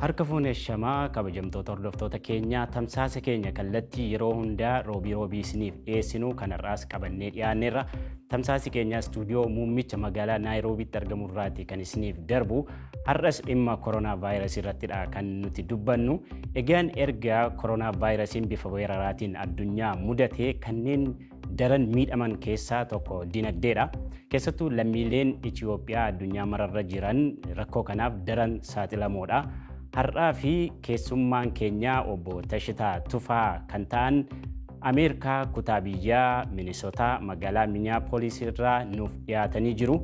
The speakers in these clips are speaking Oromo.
Harka fuune shamaa kabajamtoota hordoftoota keenyaa tamsaasa keenya kallattii yeroo hundaa roobii roobii isiniif dhiyeessinu kanarraas qabannee dhiyaanneerra. Tamsaasi keenya istuudiyoo muummicha magaalaa Naayiroobiitti argamu irraati kan isiniif darbu. Har'as dhimma koronaa vaayirasii irrattidha kan nuti dubbannu. Egaan erga koronaa vaayirasiin bifa weeraraatiin addunyaa mudatee kanneen daran miidhaman keessaa tokko dinagdeedha. Keessattuu lammiileen Itiyoophiyaa addunyaa mararra jiran rakkoo kanaaf daran saaxilamoodha. Har'aa fi keessummaan keenyaa obbo Tashitaa Tufaa kan ta'an Ameerikaa kutaa biyyaa Minisotaa magaalaa Miniyaapolis irraa nuuf dhiyaatanii jiru.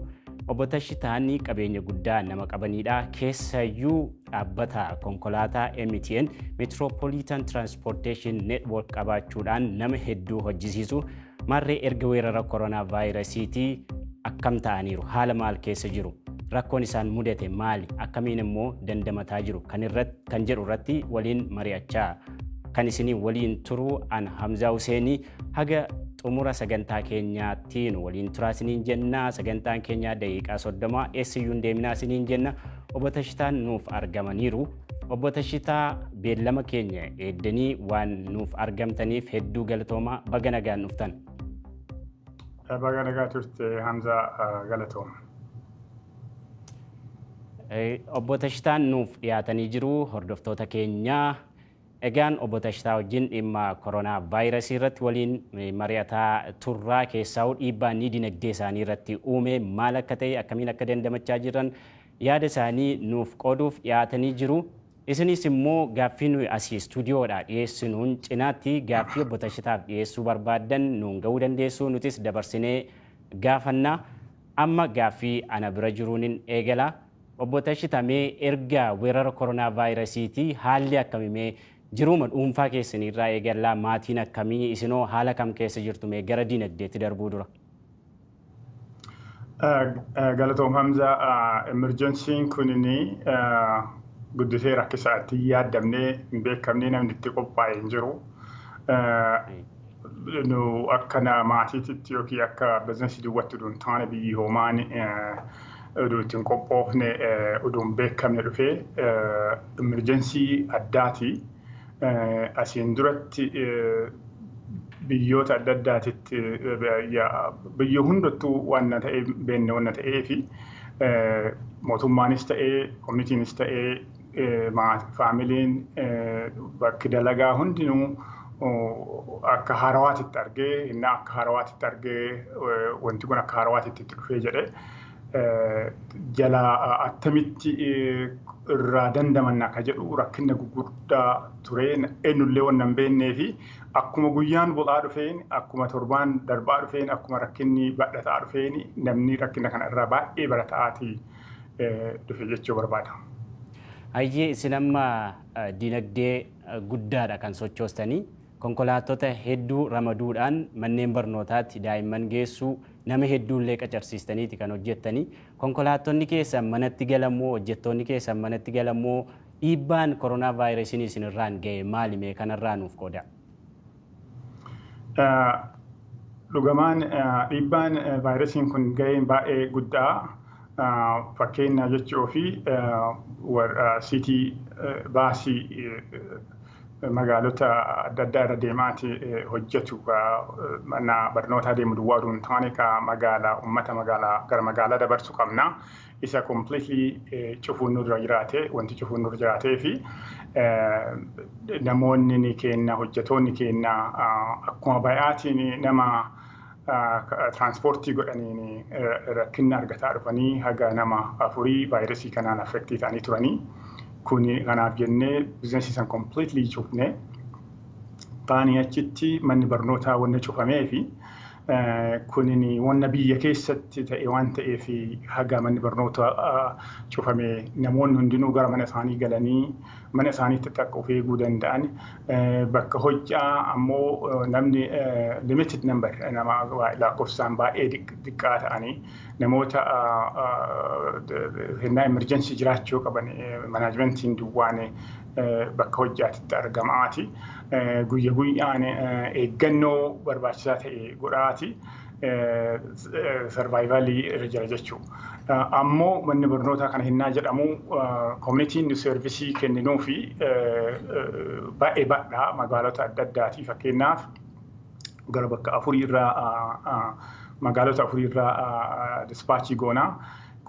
Obbo Tashitaanii qabeenya guddaa nama qabaniidha. Keessayyuu Dhaabbata konkolaataa MTN Metropolitan Transportation Network qabaachuudhaan nama hedduu hojjisiisu marree erga weerara koronaa vaayirasiitii akkam ta'aniiru haala maal keessa jiru rakkoon isaan mudate maali akkamiin immoo dandamataa jiru kan irratti kan jedhu irratti waliin mari'achaa kan isinii waliin turu an Hamzaa Huseenii haga xumura sagantaa keenyaattiin waliin turaa isiniin jenna sagantaan keenyaa daqiiqaa soddoma eessayyuu hin deeminaa isiniin jenna Obbo Tashitaan nuuf argamaniiru. Obbo Tashitaa beellama keenya eegdanii waan nuuf argamtaniif hedduu galatoomaa baga nagaan dhuftan. Baga nagaa turte Hamzaa galatooma. Obbo Tashitaan nuuf dhiyaatanii jiru hordoftoota keenyaa. Egaan Obbo Tashtaa wajjin dhimma Koronaa Vaayirasii irratti waliin mari'ataa turraa keessaahuu dhiibbaa inni dinagdee isaanii irratti uume maal akka ta'e akkamiin akka dandamachaa jiran yaada isaanii nuuf qooduuf dhiyaatanii jiru. Isiniis immoo gaaffii nuyi asii istuudiyoodhaa dhiyeessinuun cinaatti gaaffii Obbo Tashitaaf dhiyeessuu barbaaddan nuun ga'uu dandeessu nutis dabarsinee gaafanna. Amma gaaffii ana bira jiruunin eegala. Obbo Tashita mee erga weerara koronaa vaayirasiiti haalli akkami mee jiruuma dhuunfaa keessaniirraa eegallaa maatiin akkami isinoo haala kam keessa jirtu mee gara dinagdeetti darbuu dura. Galatoom Hamza emergensiin kunini guddisee rakkisaa itti hin yaaddamne hin beekamne namni itti qophaa'e hin jiru. nu akka na- maatiititti yookiin akka bizinasii duwwatti uduun taane biyyi hoomaan uduu ittiin qophoofne eh, uduun beekamne dhufee imirjensii addaati. Eh, Asiin duratti eh, biyyoota adda addaatitti eh, biyya- biyya hundattuu waan na ta'e beenne waan na ta'ee fi eh, mootummaanis ta'ee koominiitiinis ta'ee faamiliin bakki dalagaa hundinuu akka haarawaatitti argee inni akka haarawaatitti argee wanti kun akka haarawaatitti itti dhufee jedhe jala attamitti irraa dandamanna akka jedhu rakkinna guguddaa ture eenyullee waan hin beeknee fi akkuma guyyaan bu'aa dhufeen akkuma torbaan darbaa dhufeen akkuma rakkinni badhataa dhufeen namni rakkina kana irraa baay'ee barata'aati. dhufe jechuu barbaada. Hayyee isin amma dinagdee guddaadha kan sochoostanii konkolaattota hedduu ramaduudhaan manneen barnootaatti daa'imman geessuu nama hedduullee qacarsiistaniiti kan hojjettanii konkolaattonni keessan manatti galammoo hojjettoonni keessan manatti galammoo dhiibbaan koronaa vaayirasiin isinirraan ga'e maali mee kanarraa nuuf qoodaa. Dhugumaan dhiibbaan vaayirasiin kun ga'een baay'ee guddaa fakkeenyaa jechi ofii siitii baasii magaalota adda addaa irra deemaati hojjetu mana barnootaa deemu duwwaa oduu hin taane ka magaala ummata magaalaa gara magaalaa dabarsu qabna. isa completely cufuun nurra jiraate wanti cufuun nurra jiraatee fi namoonni ni kenna hojjetoonni kenna akkuma bayaatiin nama tiraanspoortii godhaniin rakkinna argataa dhufanii haga nama afurii vaayirasii kanaan affektii ta'anii turanii kuni kanaaf jennee bizinesii san completely cufne baanii achitti manni barnootaa wanni cufamee fi Kunin wanna biyya keessatti ta'e waan ta'eef haga manni barnoota cufame namoonni hundinuu gara mana isaanii galanii mana isaaniitti takka of eeguu danda'an bakka hojjaa ammoo namni limited number nama lakkoofsaan baay'ee xiqqaa ta'anii namoota hennaa emerjensii jiraachuu qaban manaajimentiin duwwaan bakka hojjaatitti argamaati. Guyya guyyaan eeggannoo barbaachisaa ta'e godhaati. Sarvaayivaalii irra jira jechuu. Ammoo manni barnootaa kana hinnaa jedhamu koominitiin seervisii kenninuu fi baay'ee badhaa magaalota adda addaati fakkeenyaaf gara bakka afurii irraa magaalota afurii irraa dispaachii goonaa.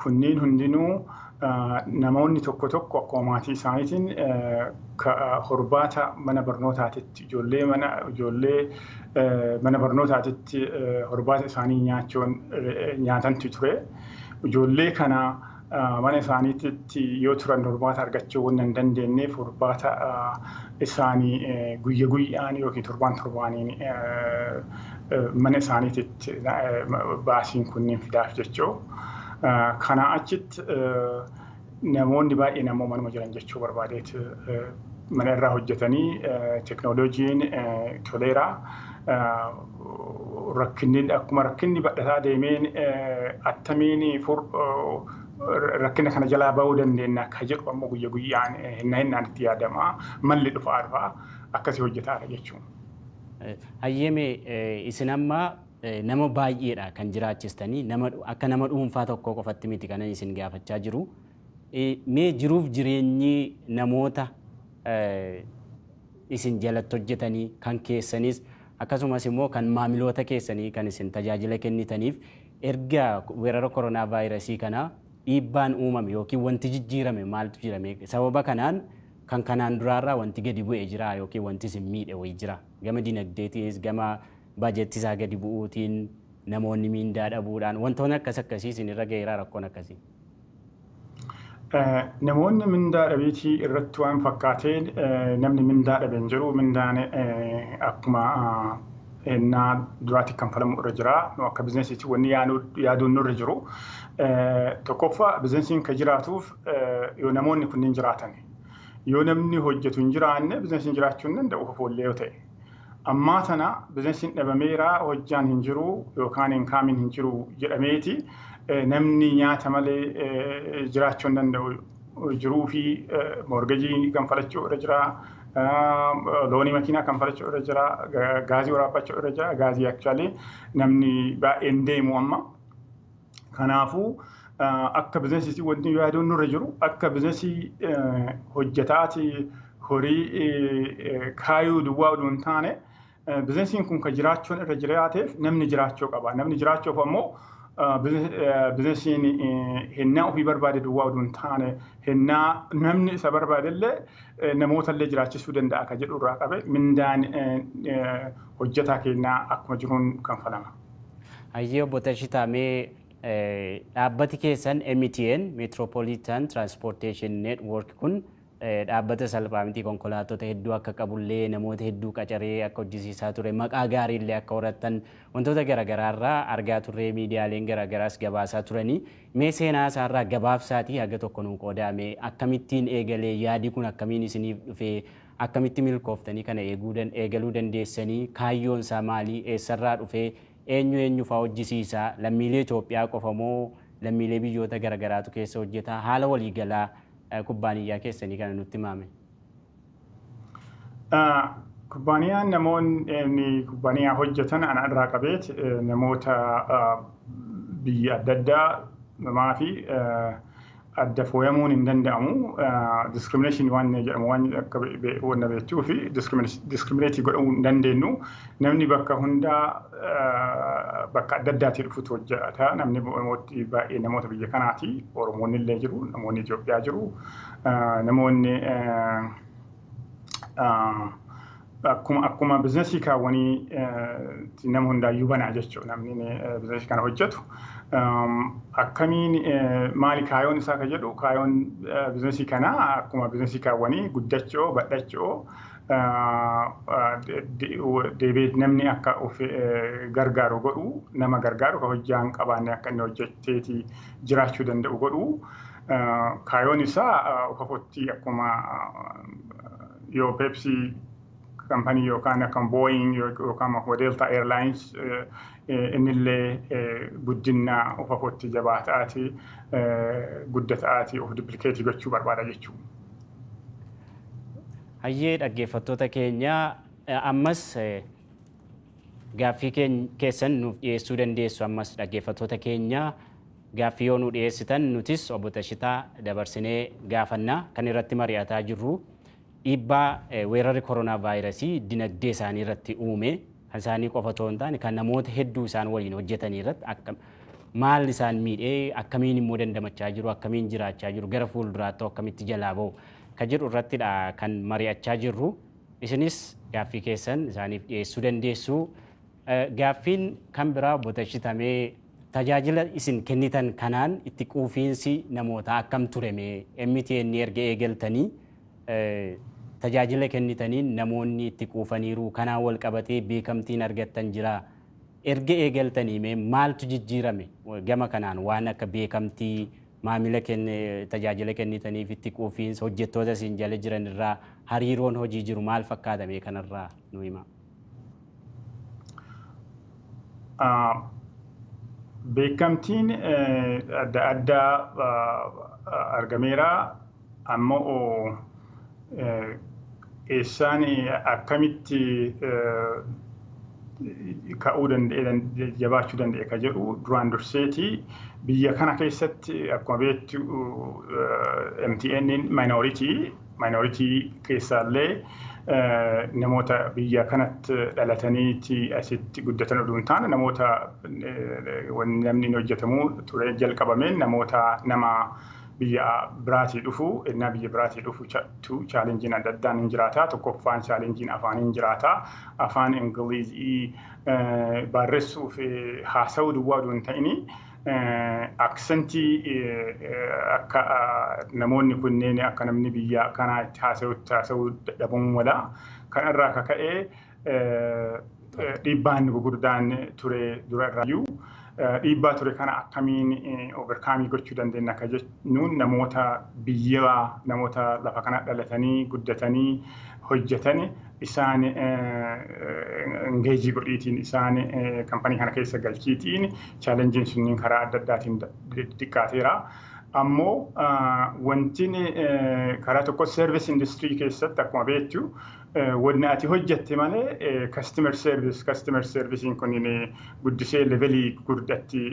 Kunniin hundinuu namoonni tokko tokko akkuma maatii isaaniitiin horbaata mana barnootaatitti ijoollee mana ijoollee mana barnootaatitti horbaata isaanii nyaachuun nyaatantu ture. Ijoollee kana mana isaaniitti yoo turan horbaata argachuu waan hin dandeenyeef horbaata isaanii guyya guyyaan yookiin torbaan torbaaniin mana isaaniititti baasiin kunniin fidaaf jechuu. Kanaa achitti namoonni baay'een ammoo manuma jiran jechuu barbaadeet mana irraa hojjetanii teknooloojiin toleera. Rakkinni akkuma rakkinni badhataa deemeen attamiin rakkina kana jalaa ba'uu dandeenya akka jedhu ammoo guyya guyyaan hinna hinnaan itti yaadama. Malli dhufaa dhufaa akkasii hojjetaadha jechuudha. Hayyeme isin amma nama baay'eedha kan jiraachistanii nama akka nama dhuunfaa tokkoo qofatti miti kanan isin gaafachaa jiru. Mee jiruuf jireenyi namoota isin jalatti hojjetanii kan keessanis akkasumas immoo kan maamiloota keessanii kan isin tajaajila kennitaniif erga weerara koronaa vaayirasii kana dhiibbaan uumame yookiin wanti jijjiirame maaltu jirame sababa kanaan kan kanaan duraarraa wanti gadi bu'e jiraa yookiin wanti isin miidhe wayi jiraa? Gama dinagdeetiis, gama budget isaa gadi bu'uutiin, namoonni miindaa dhabuudhaan wantoonni akkas akkasii isin irra gaheeraa rakkoon akkasii? Namoonni mindaa dhabiitii irratti waan fakkaatee namni mindaa dhabe hin jiru. Mindaan akkuma hennaa duraatti kanfalamu irra jira. Nu akka bizinesiitti wanni yaaduun nurra jiru. Tokkoffaa bizinesiin kan jiraatuuf yoo namoonni kunniin jiraatani. Yoo namni hojjetu hin jiraanne bizinasiin jiraachuu hin danda'u kofoollee yoo ta'e. Ammaa tana bizinasiin dhabameera hojjaan hin jiru yookaan inkaamiin hin jiru jedhameeti namni nyaata malee jiraachuu hin danda'u. Jiruu fi morgejii kanfalachuu irra jira. Loonii makiinaa kanfalachuu irra jira. Gaazii waraabbachuu irra jira. Gaazii aktuwaalii namni baay'een deemu amma. Kanaafuu akka bizinesiitti wanti yaaduun nurra jiru akka bizinesii hojjetaati horii kaayuu duwwaa oduu hin taane bizinesiin kun kan jiraachuun irra jiraateef namni jiraachuu qaba. Namni jiraachuuf ammoo bizinesiin hennaa ofii barbaade duwwaa oduu hin taane hennaa namni isa barbaadellee namoota illee jiraachisuu danda'a kan jedhu irraa qabe mindaan hojjetaa keenyaa akkuma jiruun kanfalama. Hayyee obbo Tashitaa mee dhaabbati keessan MTN Metropolitan Transportation Network kun dhaabbata salphaa miti konkolaattota hedduu akka qabullee namoota hedduu qacaree akka hojjisiisaa ture maqaa gaariillee akka horattan wantoota garaagaraarraa argaa turree miidiyaaleen garaagaraas gabaasaa turanii mee seenaa isaarraa gabaabsaatii haga tokko nuu qoodaame akkamittiin eegalee yaadi kun akkamiin isiniif dhufee Akkamitti milkooftanii kana eeguu dan eegaluu dandeessanii? Kaayyoon isaa maali? Eessarraa dhufe? Eenyu eenyufaa hojjisiisa? Lammiilee Itoophiyaa qofa moo lammiilee biyyoota garagaraatu keessa hojjeta? Haala walii galaa kubbaaniyyaa keessanii kana nutti himaa mee. Kubbaaniyaan namoonni kubbaaniyaa hojjetan ana irraa qabeet namoota biyya adda addaa namaa fi adda fooyamuun hin danda'amu. Discrimination waan inni jedhamu waan akka wanna beektuu fi discriminate godhamuu hin dandeenyu. Namni bakka hundaa bakka adda addaatii dhufutu hojjeta. Namni Oromootti baay'ee namoota biyya kanaati. Oromoonni illee jiru, namoonni Itoophiyaa jiru, namoonni akkuma akkuma bizinesii kaawwanii nama hundaayyuu banaa jechuudha namni bizinesii kana hojjetu. Akkamiin maali kaayoon isaa ka jedhu kaayoon bizinesii kanaa akkuma bizinesii kaawwanii guddachoo badhachoo deebi'ee namni akka of gargaaru godhu nama gargaaru ka hojjaa hin qabaanne akka inni hojjetteeti jiraachuu danda'u godhu. Kaayoon isaa ukafootti akkuma yoo peepsii kampanii yookaan akka booying yookaan akka deeltaa eerlaayins innillee guddina ukafootti jabaa ta'aati gudda ta'aati of diplikeetii gochuu barbaada jechuudha. Hayyee dhaggeeffattoota keenya ammas gaaffii keessan nuuf dhiyeessuu dandeessu ammas dhaggeeffattoota keenya Gaaffii yoo nuu dhiyeessitan nutis Obbo Tashitaa dabarsinee gaafanna. Kan irratti mari'ataa jirru dhiibbaa weerarri koronaavaayirasii dinagdee isaanii irratti uume kan isaanii qofa otoo hin taane kan namoota hedduu isaan waliin hojjetanii irratti akka maal isaan miidhe akkamiin immoo dandamachaa jiru akkamiin jiraachaa jiru gara fuulduraatti akkamitti jalaa ba'u kan jedhu irrattidha kan mari'achaa jirru. Isinis gaaffii keessan isaaniif dhiyeessuu dandeessu. Gaaffiin kan biraa obbo Tashita mee tajaajila isin kennitan kanaan itti quufiinsi namootaa akkam ture mee MTN erga eegaltanii tajaajila kennitaniin namoonni itti quufaniiru kanaan wal qabatee beekamtiin argattan jira erga eegaltanii mee maaltu jijjiirame gama kanaan waan akka beekamtii maamila tajaajila kennitaniif itti quufiinsa hojjettoota isin jala jiran irraa hariiroon hojii jiru maal fakkaata mee kanarraa nu himaa. Beekamtiin adda addaa argameera ammoo eessaan akkamitti ka'uu danda'e jabaachuu danda'e ka jedhu duraan durseeti biyya kana keessatti akkuma beektu MTN'n minority Minority keessaallee namoota biyya kanatti dhalataniiti asitti guddatan oduu hin taane namoota namni hin hojjetamu ture jalqabameen namoota nama biyya biraatii dhufu ennaa biyya biraatii dhufu chaalenjiin adda addaan hin jiraata tokkoffaan chaalenjiin afaan hin jiraata afaan ingiliizii barreessuuf haasa'uu duwwaa oduu hin ta'ini aksentii akka namoonni kunneen akka namni biyya kanaa itti haasa'utti haasa'uu dadhabamuu mala. Kan irraa akka ka'e dhiibbaan gurguddaan ture dura irraayyuu dhiibbaa ture kana akkamiin overkaamii gochuu dandeenya akka jennuun namoota biyya namoota lafa kana dhalatanii guddatanii hojjetan isaan engeejii godhiitiin isaan kampanii kana keessa galchiitiin chaalenjiin sunniin karaa adda addaatiin xiqqaateera. Ammoo wantiin karaa tokko service industry keessatti akkuma beektu wanni ati hojjette malee customer service customer servicing kun guddisee levelii gurguddatti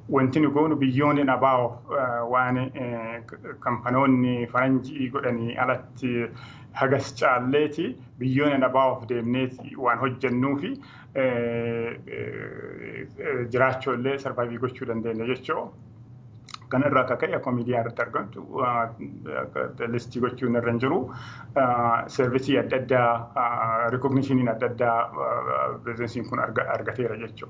wanti nu goonu biyyoonni nabaawo waan kampanoonni faranjii godhanii alatti hagas caalleeti biyyoona nabaawaf deemneeti waan hojjennuufi jiraachuullee sarvaayivii gochuu dandeenya jechuu kana irraa akka ka'e akkuma miidiyaa irratti argamtu listii gochuun irra hin jiru seervisii adda addaa rikognishiniin adda addaa bizinesiin kun argateera jechuu.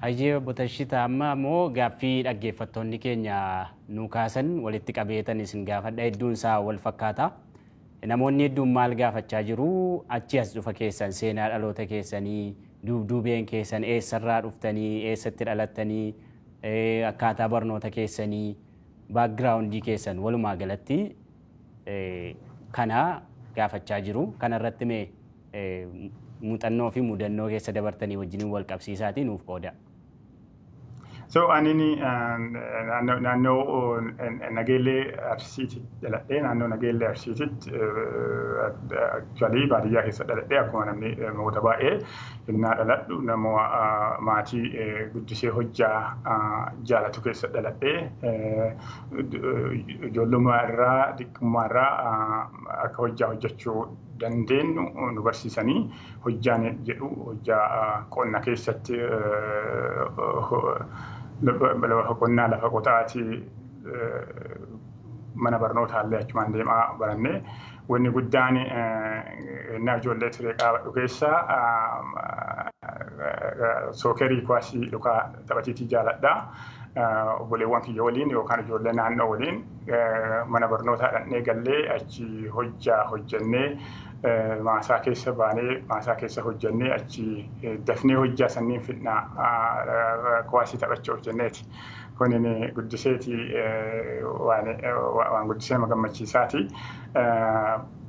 Hayyee obbo Tashita amma immoo gaaffii dhaggeeffattoonni keenya nuu kaasan walitti qabeetan isin gaafadha hedduun isaa wal fakkaata. Namoonni hedduun maal gaafachaa jiru achi as dhufa keessan seenaa dhaloota keessanii duubduubeen keessan eessarraa dhuftanii eessatti dhalattanii akkaataa barnoota keessanii baakgiraawundii keessan walumaa galatti kana gaafachaa jiru. Kanarratti mee muuxannoo fi mudannoo keessa dabartanii wajjiniin wal qabsiisaatii nuuf qoodaa. So anini naannoo Nageellee Arsiiti dhaladhee naannoo Nageellee Arsiititti actually baadiyyaa keessa dhaladhee akkuma namni namoota baay'ee innaa dhaladhu nama maatii guddisee hojjaa jaalatu keessa dhaladhee ijoollummaa irraa xiqqummaa irraa akka hojjaa hojjechuu dandeenyu nu barsiisanii Hojjaan jedhu hojjaa qonna keessatti lafa qonnaa lafa qotaati mana barnootaallee achumaan deemaa baranne. Wanni guddaan ennaa ijoollee ture qaabadhu keessa sookerii kuwaasii lukaa taphatiitii jaaladha. Obboleewwan kiyya waliin yookaan ijoollee naannoo waliin mana barnootaa dhaqnee gallee achi hojjaa hojjannee maasaa keessa baanee maasaa keessa hojjannee achi dafnee hojjaa sanniin fidna kuwaasii taphachuuf jenneeti. Kunin guddiseeti waan waan guddisee nama gammachiisaati.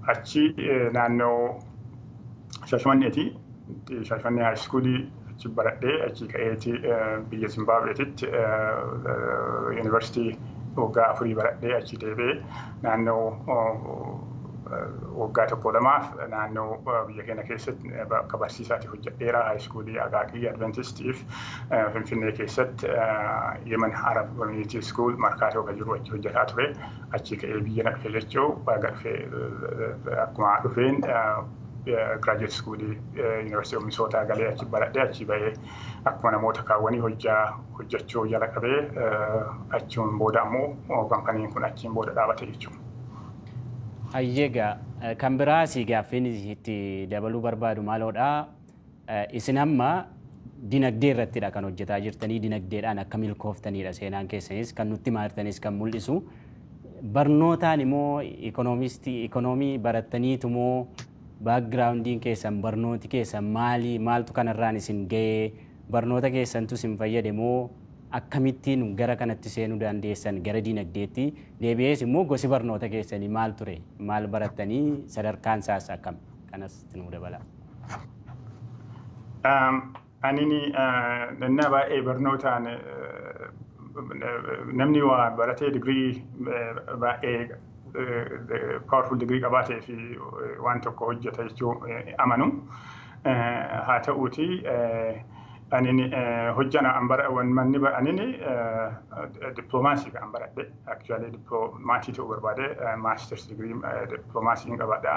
Achi naannoo Shashamanneeti. Shashanee High School achi baradhee achi ka'eeti biyya Zimbaabeetitti yuunivarsiitii waggaa afurii baradhee achi deebi'ee naannoo waggaa tokko lamaaf naannoo biyya keenya keessatti akka barsiisaati hojjedheera high school Aqaaqii Adventistiif Finfinnee keessatti Yemen Arab Community School markaatoo kan jiru achi hojjetaa ture achi ka'ee biyya na dhufe jechuu baga dhufe akkuma dhufeen graduate school University of Minnesota galee achi baradhee achi ba'ee akkuma namoota kaawwanii hojjaa hojjachuu jala qabee achiin booda ammoo kampaniin kun achiin booda dhaabate jechuudha. Ayyeegaa kan biraa si gaaffiin itti dabaluu barbaadu maaloodha? Isin amma dinagdee irrattidha kan hojjetaa jirtanii, dinagdeedhaan akka milkooftanidha seenaan keessanis kan nutti himaa jirtanis kan mul'isu. Barnootaan immoo ikoonomistii ikoonomii barattaniitu moo baakgiraawundiin keessan barnooti keessan maali maaltu kanarraan isin ga'ee barnoota keessantu isin fayyade moo akkamittiin gara kanatti seenuu dandeessan gara dinagdeetti deebi'ees immoo gosi barnoota keessanii maal ture maal barattanii sadarkaan isaas akkam kanas nuu dabalaa. Anini nannaa baay'ee barnootaan namni waa baratee digirii baay'ee powerful digirii qabaatee fi waan tokko hojjeta jechuu amanu. Haa ta'uuti anin hojjana manni anin dippiloomaasii kan baradhe actually dippiloomaasii ta'uu barbaade maasters digirii dippiloomaasii hin qabaadha.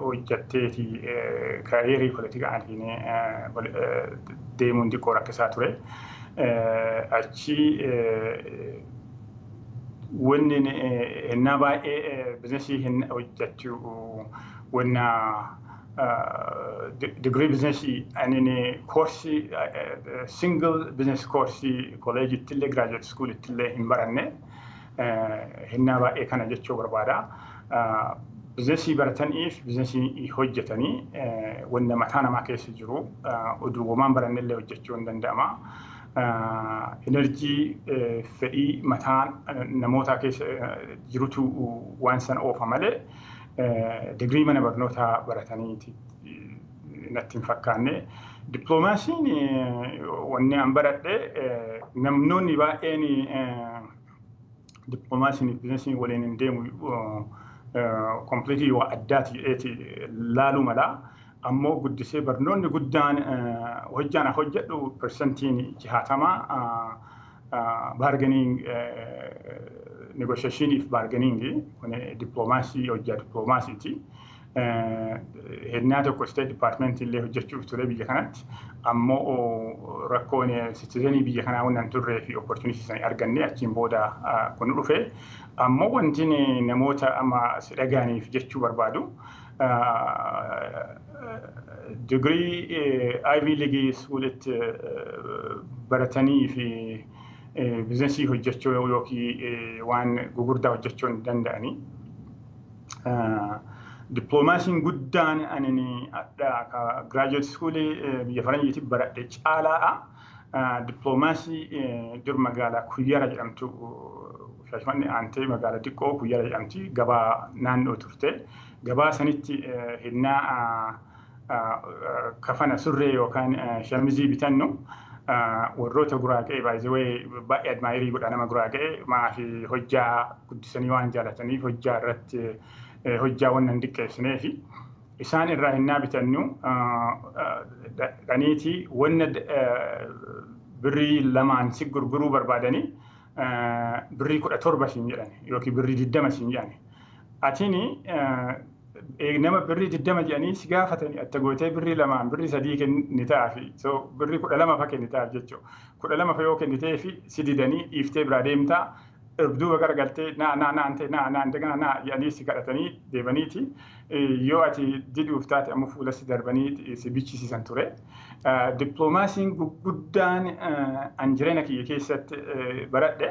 hojjatteeti kaayeerii politikaa aantiin deemuun xiqqoo rakkisaa ture. Achi wanni hennaa baay'ee bizinesii hojjachuu wanna digirii bizinesii anin koorsii single bizinees koorsii kooleejittillee giraajuweet iskuulittillee hin baranne. hennaa baay'ee kana jechuu barbaada. Bizinesii barataniif bizinesii hojjetanii wanna mataa namaa keessa jiru oduuwwamaan barannellee hojjechuu hin danda'ama. Enerjii fedhii mataa namootaa keessa jirutu waan san oofa malee digirii mana barnootaa barataniiti natti hin fakkaanne. Dippiloomaasiin wanni an baradhe namnoonni baay'een diplomaasiin bizinesiin waliin hin deemu kompiliitii waa addaati jedheeti laaluu mala. Ammoo guddisee barnoonni guddaan hojjaan hojjedhu persentiin jahatama baargeniing negoshashiiniif baargeniingi kun diploomaasii hojjaa diploomaasiiti. hennaa tokko state department illee hojjechuuf ture biyya kanatti ammoo rakkoon citizenii biyya kanaa waan hin turree fi opportunity sana arganne achiin booda kun dhufe ammoo wanti namoota amma si dhagaaniif jechuu barbaadu digirii Ivy League suulitti baratanii fi bizinesii hojjechuu yookiin waan gugurdaa hojjechuu hin danda'anii. Dippiloomaasiin guddaan ani giraajuweet iskuulii biyya faranjiitti baradhe caalaadha. Dippiloomaasii dur magaalaa Kuyyara jedhamtu Shaashmanni aantee magaalaa xiqqoo Kuyyara jedhamti gabaa naannoo turte. Gabaa sanitti hennaa kafana surree yookaan shamizii bitannu warroota guraaga'e baay'ee baay'ee admaayirii godha nama guraaga'e maafi hojjaa guddisanii waan jaalataniif hojjaa irratti hojjaa waan hin diqqeessinee fi isaan irraa hinnaa bitannu dhaniitii wanna birrii lamaan si gurguruu barbaadanii birrii kudha torba siin jedhan yookiin birrii diddama siin jedhan atini nama birrii diddama jedhanii si gaafatanii atta gootee birrii lamaan birrii sadii kennitaafi so birrii kudha lama fa kennitaaf jechuu kudha lama fa yoo kennitee fi si didanii dhiiftee biraa deemtaa duuba gara galtee naa naa naan ta'e naa naan daganaa naa jedhanii si kadhatanii deemaniiti yoo ati diduuf taate ammoo fuula si darbanii si bichisiisan ture. Dippiloomaasiin gurguddaan an jireenya kiyya keessatti baradhe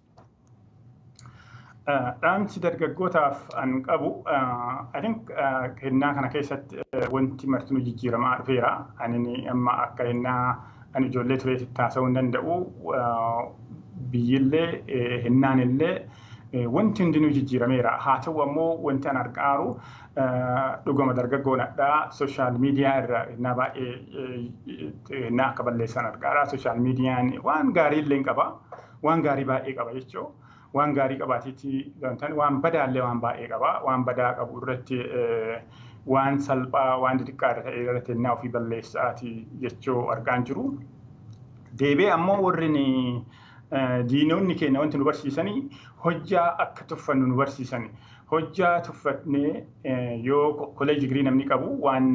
Dhaamsi dargaggootaaf an qabu I think hennaa kana keessatti wanti martinuu jijjiiramaa dhufeera. Ani amma akka hennaa ani ijoollee tureetti taasisuu hin danda'u. Biyyillee hennaan illee wanti hundinuu jijjiirameera. Haa ta'u ammoo wanti an argaaru dhugama dargaggoon adhaa sooshaal miidiyaa irra hennaa baay'ee hennaa akka balleessan argaara. Sooshaal miidiyaan waan gaarii illee qaba. Waan gaarii baay'ee qaba jechuu waan gaarii qabaatiitti dantan waan badaallee waan baay'ee qaba waan badaa qabu irratti waan salphaa waan xixiqqaa irra ta'e irratti ennaa ofii balleessaati jechuu argaan jiru. Deebee ammoo warri diinonni keenya wanti nu barsiisanii hojjaa akka tuffannu nu barsiisani. Hojjaa tuffadhnee yoo college degree namni qabu waan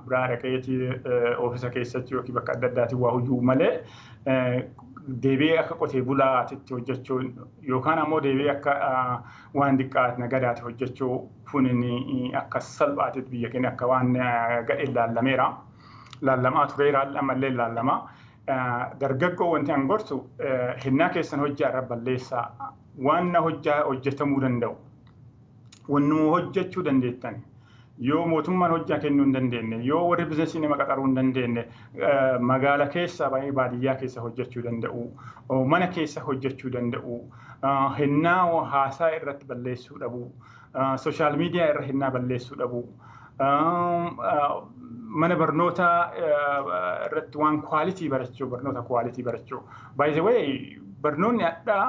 biraa dhaqeeti oofisa keessatti yookiin bakka adda addaatiin waa hojjuu malee deebi'ee akka qotee bulaatitti hojjechuu yookaan ammoo deebi'ee akka waan diqqaat nagadaati hojjechuu kunin akka salphaatitti biyya keenya akka waan gadheen laallameera. Laallamaa tureera ammallee laallamaa. Dargaggoo wanti an gorsu hennaa keessan hojjaa irra balleessaa Waanna hojjaa hojjatamuu danda'u wannuma hojjachuu dandeettan yoo mootummaan hojjaa kennuu hin dandeenne yoo warri bizinesii nama qaxaruu hin dandeenne magaala keessa ba'ee baadiyyaa keessa hojjachuu danda'u mana keessa hojjachuu danda'u hennaa haasaa irratti balleessuu dhabuu Sooshaal miidiyaa irra hennaa balleessuu dhabuu. Mana barnootaa irratti waan kwaalitii barachuu, barnoota kwaalitii barachuu. By the way, barnoonni hadhaa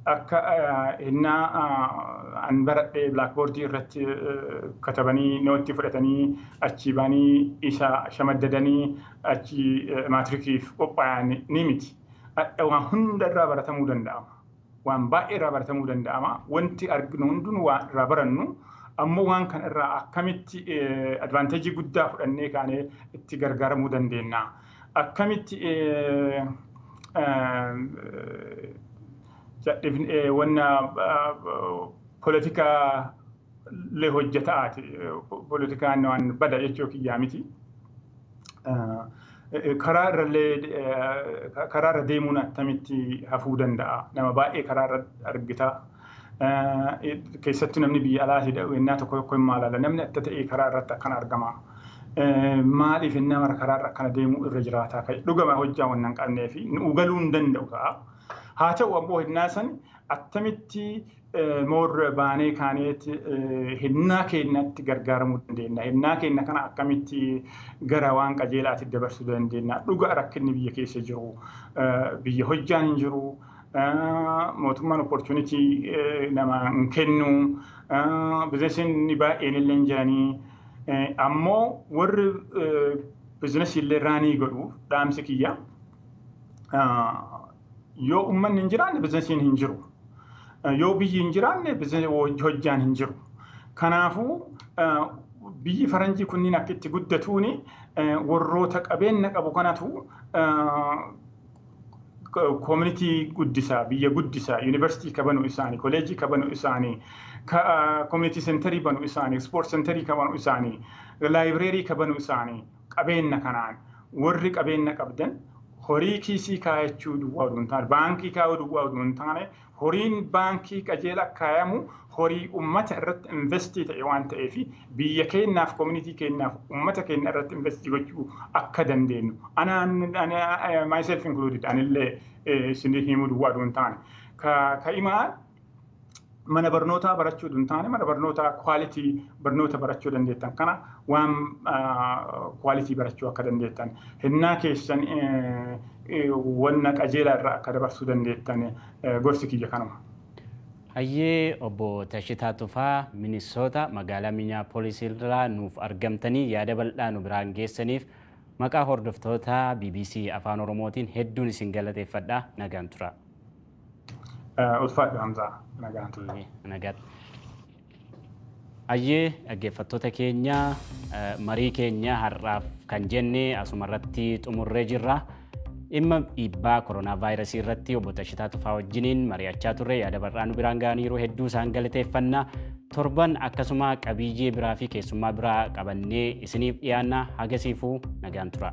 akka hennaa an baradhee blaakboordii irratti katabanii nootti fudhatanii achii baanii isa shamaddadanii achii maatirikiif qophaayan ni miti. Hadha waan hunda irraa baratamuu danda'ama. waan baay'ee irraa baratamuu danda'ama. Wanti arginu hundinuu waan irraa barannu ammoo waan kana irraa akkamitti advaanteejii guddaa fudhannee kaanee itti gargaaramuu dandeenya. Akkamitti wanna polotikaa le hojjetaati. Politikaan waan bada jechuu kiyyaa miti. Karaa irrallee karaa irra deemuun attamitti hafuu danda'a. Nama baay'ee karaa irra argita. Keessattuu namni biyya alaati wennaa tokko tokko hin maalala. Namni atta ta'ee karaa irratti akkan argama. Maaliif innaa mara karaa irra akkana deemuu irra jiraataa ka'e. Dhugama hojjaa waan hin qabnee fi nu galuu hin danda'u ta'a. Haa ta'u ammoo hennaa san attamitti more baanee kaaneet hennaa keennatti gargaaramuu dandeenya. Hennaa keenna kana akkamitti gara waan qajeelaatti dabarsuu dandeenya. Dhuga rakkinni biyya keessa jiru biyya hojjaan hin jiru. Mootummaan opportunity nama hin kennu. Bizinesiin baay'een illee hin jiranii. Ammoo warri bizinesii illee raanii godhu dhaamsi kiyya. Yoo ummanni hin jiraanne bizinesiin hin jiru. Yoo biyyi hin jiraanne hojjaan hin jiru. Kanaafuu biyyi faranjii kunniin akka itti guddatuun warroota qabeenya qabu kanatu koominitii guddisaa, biyya guddisaa, yuunivarsiitii ka banu isaanii, koleejii ka banu isaanii, koominitii sentarii banu isaanii, ispoort sentarii ka banu isaanii, laayibireerii ka banu isaanii, qabeenna kanaan warri qabeenna qabdan horii kiisii kaayachuu duwwaa oduu hin taane baankii kaayuu duwwaa oduu hin taane horiin baankii qajeela kaayamu horii ummata irratti investii ta'e waan ta'eef biyya keenyaaf komunitii keenyaaf ummata keenya irratti investii gochuu akka dandeenyu anaan myself included anillee isinii himuu duwwaa oduu hin taane ka ka'imaa mana barnootaa barachuu hin taane mana barnootaa kwaalitii barnoota barachuu dandeettan kana waan kwaalitii barachuu akka dandeettan hennaa keessan wanna qajeelaa irraa akka dabarsuu dandeettan gorsi kiyya kanuma. Hayyee obbo Tashitaa Tufaa Minisoota magaalaa Minneapolis irraa nuuf argamtanii yaada bal'aa nu biraan geessaniif maqaa hordoftoota BBC Afaan Oromootiin hedduun isin galateeffadha nagaan tura. Ulfaadhu Hamzaa nagaan ture. Nagaatti. Ayyee dhaggeeffattoota keenya marii keenya har'aaf kan jenne asuma irratti xumurree jirra. Dhimma dhiibbaa koronaa vaayirasii irratti obbo Tashitaa Tufaa wajjiniin mari'achaa turre yaada bal'aa nu biraan ga'aniiru hedduu isaan galateeffanna. Torban akkasuma qabiyyee biraa fi keessummaa biraa qabannee isiniif dhiyaanna hagasiifuu nagaan tura.